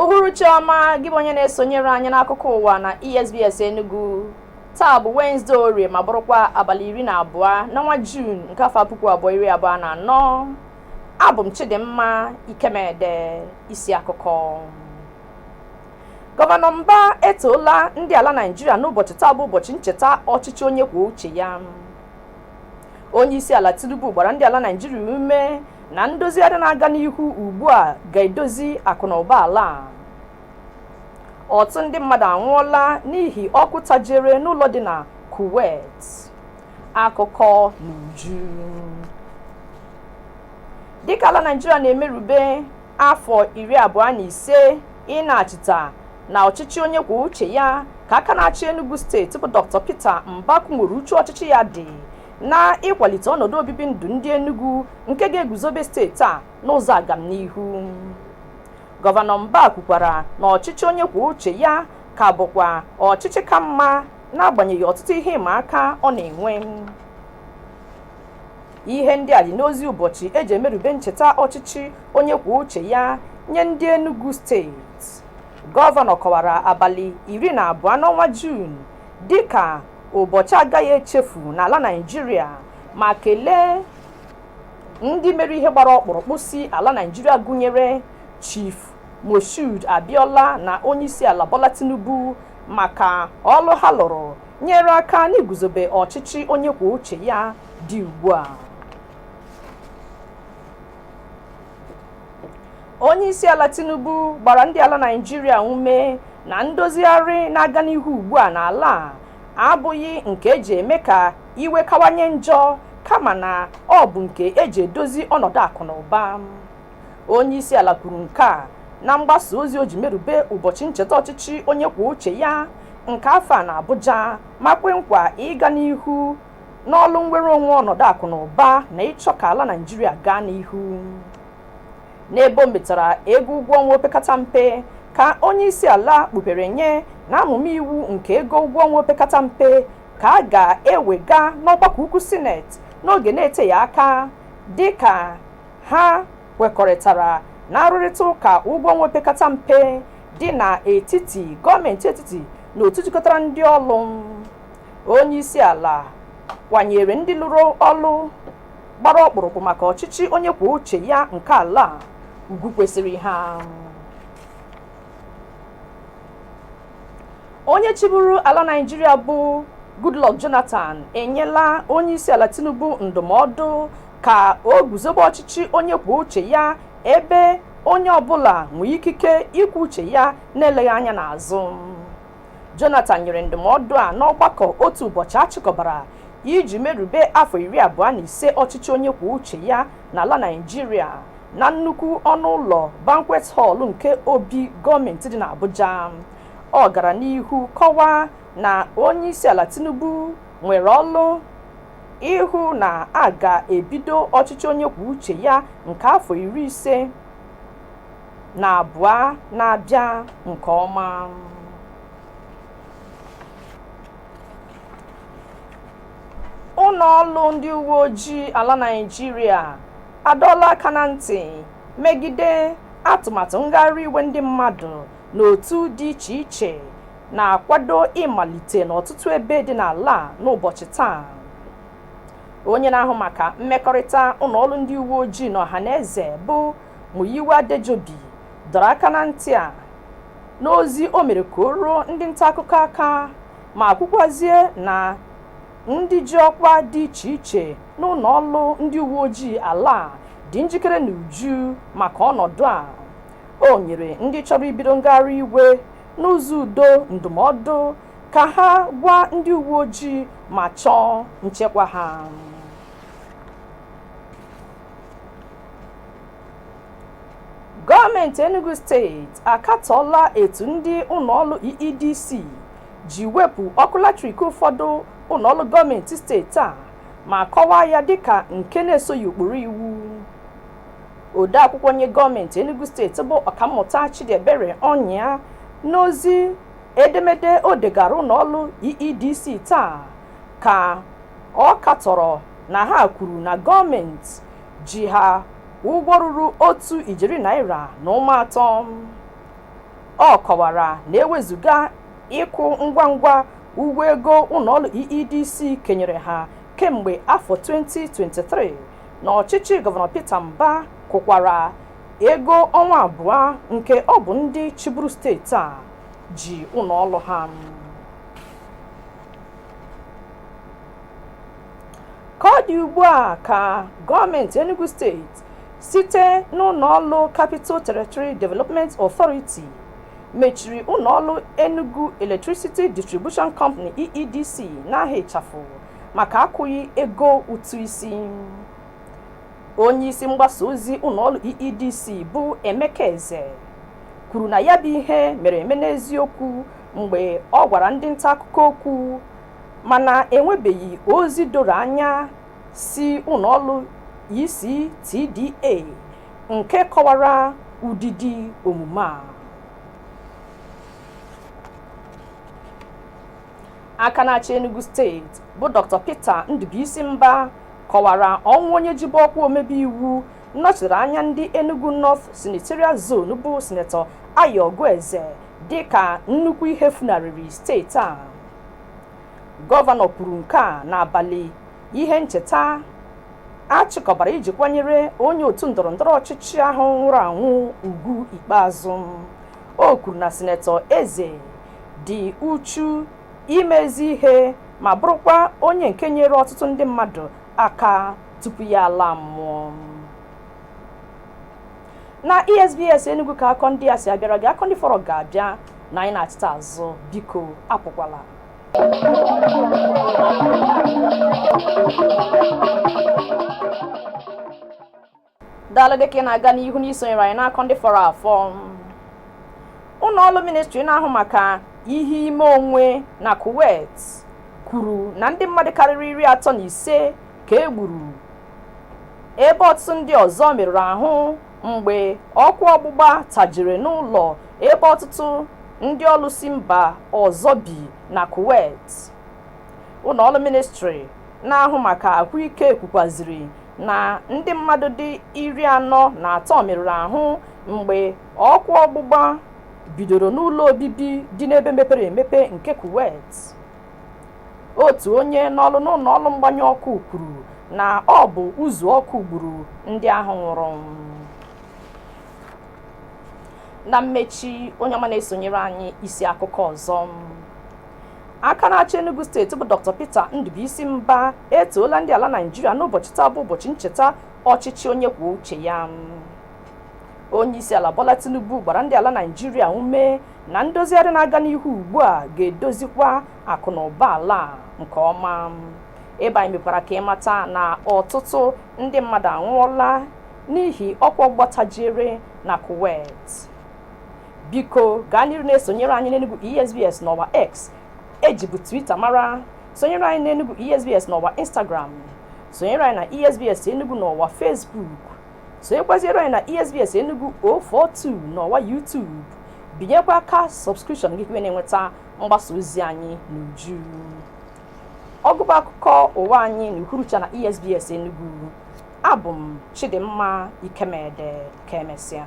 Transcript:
uhuruchi ọma gị bụ onye na-esonyere anyị n'akụkọ ụwa na esbs enugu taa bụ wenezdee orie ma bụrụkwa abalị iri na abụọ n'ọnwa juun nke afọ puku abụọ iri abụọ na anọ abụ m Chidimma Ikemede isi akụkọ gọvanọ Mba etoola ndị ala Naịjirịa n'ụbọchị taa bụ ụbọchị ncheta ọchịchị onye kwuo uche ya onye isi ala Tinubu gbara ndị ala Naịjirịa ume na ndozigharị na-aga n'ihu ugbu a ga-edozi akụ na ụba ala ọtụtụ ndị mmadụ anwụọla n'ihi ọkụ tajere n'ụlọ dị na Kuwait akụkọ n'uju dịka ala naijiria na-emerube afọ iri abụọ na ise ịna-achịta na ọchịchị onye kwuo uche ya ka aka na-achị enugu steeti bụ dr peter mba kwunwere uchu ọchịchị ya dị na ịkwalite ọnọdụ obibi ndụ ndị enugu nke ga-eguzobe steeti a n'ụzọ agamnihu gọvanọ mba kwukwara na ọchịchị onye kwuo uche ya ka bụkwa ọchịchị ka mma n'agbanyeghị ọtụtụ ihe ịma aka ọ na-enwe ihe ndị a dị n'ozi ụbọchị eji emerube ncheta ọchịchị onye kwuo uche ya nye ndị Enugu steeti gọvanọ kọwara abalị iri na abụọ n'ọnwa Juun dịka ụbọchị agaghị echefu n'ala Naịjirịa ma kelee ndị mere ihe gbara ọkpụrụkpụ si ala Naịjirịa gụnyere Chief Moshood Abiola na onyeisiala Bola Tinubu maka ọlụ ha lụrụ nyere aka n'iguzobe ọchịchị onye kwuo uche ya dị ugbu a onye isi ala tinubu gbara ndị ala naijiria ume na ndozigharị na-aga n'ihu ugbu a n'ala a abụghị nke eji eme ka iwe kawanye njọ kama na ọ bụ nke eji edozi ọnọdụ akụ na ụba onye isi ala kwuru nke a na mgbasa ozi o ji merube ụbọchị ncheta ọchịchị onye kwuo uche ya nke afọ a na Abuja ma kwe nkwa ịga n'ihu n'ọlụ nnwere onwe ọnọdụ akụ na ụba na ịchọ ka ala Naịjirịa gaa n'ihu n'ebe o metara ego ụgwọ ọnwa opekata mpe ka onye isi ala kpupere nye na amụma iwu nke ego ụgwọ ọnwa opekata mpe ka a ga-ewega n'ọgbakọ ukwu sineti n'oge na-eteghị aka dịka Ha kwekọrịtara na arụrịta ụka ụgwọ ọnwa opekata mpe dị n'etiti gọọmenti etiti na otu jikọtara ndị ọlụ. Onye isi ala kwanyere ndị lụrụ ọlụ gbara ọkpụrụkpụ maka ọchịchị onye kwuo uche ya nke ala a ugwu kwesịrị ha. Onye chịburu ala Naịjirịa bụ Goodluck Jonathan enyela onye isi ala Tinubu ndụmọdụ ka o guzobe ọchịchị onye kwuo uche ya ebe onye ọbụla nwee ikike ikwu uche ya na-eleghị anya n'azụ Jonathan nyere ndụmọdụ a n'ọgbakọ otu ụbọchị a chịkọbara iji merube afọ iri abụọ na ise ọchịchị onye kwuo uche ya n'ala Naịjirịa na nnukwu ọnụ ụlọ banquet hall nke obi gọọmenti dị n'Abuja ọ gara n'ihu kọwaa na onyeisiala Tinubu nwere ọlụ ịhụ na a ga-ebido ọchịchị onye kwuo uche ya nke afọ iri ise na abụọ na-abịa nke ọma. Ụlọọrụ ndị uweojii ala Naịjirịa adọọla aka na ntị megide atụmatụ ngagharị iwe ndị mmadụ n'otu dị iche iche na-akwado ịmalite n'ọtụtụ ebe dị n'ala a n'ụbọchị taa onye na-ahụ maka mmekọrịta ụlọ ọrụ ndị uwe ojii na ọhaneze bụ Muyiwa Adejobi dọrọ aka na ntị a n'ozi o mere ka o ruo ndị nta akụkọ aka ma kwukwazie na ndị ji ọkwa dị iche iche n'ụlọ ọrụ ndị uwe ojii ala a dị njikere n'uju maka ọnọdụ a O nyere ndị chọrọ ibido ngagharị iwe n'ụzọ udo ndụmọdụ ka ha gwa ndị uwe ojii ma chọọ nchekwa ha. Gọọmenti Enugu steeti akatọọla etu ndị ụlọọrụ EEDC ji wepụ ọkụ latrik ụfọdụ ụlọọrụ gọọmenti steeti a ma kọwaa ya dịka nke na-esoghị ụkpụrụ iwu. odeakwụkwọ nye gọọmenti Enugu steeti bụ ọkammụta Chidiebere Ọnyịa n'ozi edemede o degara ụlọọrụ EEDC taa ka ọ katọrọ na ha kwuru na gọọmenti ji ha ụgwọ ruru otu ijeri naira na ụma atọ ọ kọwara na ewezuga ịkwụ ngwa ngwa ụgwọ ego ụlọọrụ EEDC kenyere ha kemgbe afọ 2023 na ọchịchị gọvanọ Peter Mbah kwụkwara ego ọnwa abụọ nke ọ bụ ndị chịburu steeti a ji ụlọ ọrụ ha ka ọ dị ugbu a ka gọọmenti Enugu steeti site n'ụlọ ọrụ Capital Territory Development Authority mechiri ụlọ ọrụ Enugu Electricity Distribution Company EEDC n'aha ịchafụ maka akwụghị ego ụtụ isi onye isi mgbasa ozi ụlọọrụ EEDC bụ Emeka Eze kwuru na ya bụ ihe mere eme n'eziokwu mgbe ọ gwara ndị nta akụkọ okwu mana enwebeghị ozi doro anya si ụlọọrụ ECTDA nke kọwara ụdịdị omume a aka na-achị Enugu steeti bụ Dr. Peter Ndubuisi Mbah kọwara ọnwụ onye jibu ọkwa omebe iwu nnọchiri anya ndị Enugu North Senatorial Zone bụ Sinetọ Ayogu Eze dịka nnukwu ihe funarịrị steeti a gọvanọ kwuru nke a n'abalị ihe ncheta a chịkọbara iji kwanyere onye otu ndọrọ ndọrọ ọchịchị ahụ nwụrụ anwụ ugwu ikpeazụ o kwuru na sinetọ eze dị uchu ime ezi ihe ma bụrụkwa onye nke nyere ọtụtụ ndị mmadụ aka tupu ya ala mmụọ na esbs enugu ka akụkọ ndị a si abịara gị akụkọ ndị fọrọ ga-abịa na anyị nachita azụ biko apụkwala daalụ dịka ị na-aga n'ihu n'isonyere anyị n'akụkọ ndị fọrọ afọ ụlọ ọrụ ministri na-ahụ maka ihe ime onwe na kuwait kwuru na ndị mmadụ karịrị iri atọ na ise ka e gburu ebe ọtụtụ ndị ọzọ merụrụ ahụ mgbe ọkụ ọgbụgba tajiri n'ụlọ ebe ọtụtụ ndị ọrụ si mba ọzọ bi na kuwait ụlọ ọrụ ministri na-ahụ maka ahụike kwukwaziri na ndị mmadụ dị iri anọ na atọ merụrụ ahụ mgbe ọkụ ọgbụgba bidoro n'ụlọ obibi dị n'ebe mepere emepe nke Kuwait. Otu onye n'ọrụ n'ụlọ ọrụ mgbanyụ ọkụ kwuru na ọ bụ uzu ọkụ gburu ndị ahụ nwụrụ. Na mmechi, onye ọma na-esonyere anyị isi akụkọ ọzọ. aka na-achị Enugu steeti bụ Dr. Peter Ndubuisi Mbah etoola ndị ala Naịjirịa n'ụbọchị taa bụ ụbọchị ncheta ọchịchị onye kwuo uche ya onye isi ala Bola Tinubu gbara ndị ala Naịjirịa ume na ndozigharị na-aga n'ihu ugbu a ga-edozikwa akụ na ụba ala nke ọma ebe anyị mekwara ka ị mata na ọtụtụ ndị mmadụ anwụọla n'ihi ọkụ ọgbatajiere na Kuwait biko gaa n'iru na-esonyere anyị n'Enugu ESBS n'ọwa X e jibu Twitter mara sonyere anyị n'Enugu ESBS n'ọwa Instagram sonyere anyị na ESBS Enugu n'ọwa Facebook sonyekwaziere anyị na ESBS Enugu 042 n'ọwa YouTube binyekwa aka subscription gị ka ị na-enweta mgbasa ozi anyị n'uju ọgụgụ akụkọ ụwa anyị n'uhuruchi a na ESBS Enugu abụ m Chidimma Ikemede ka emesịa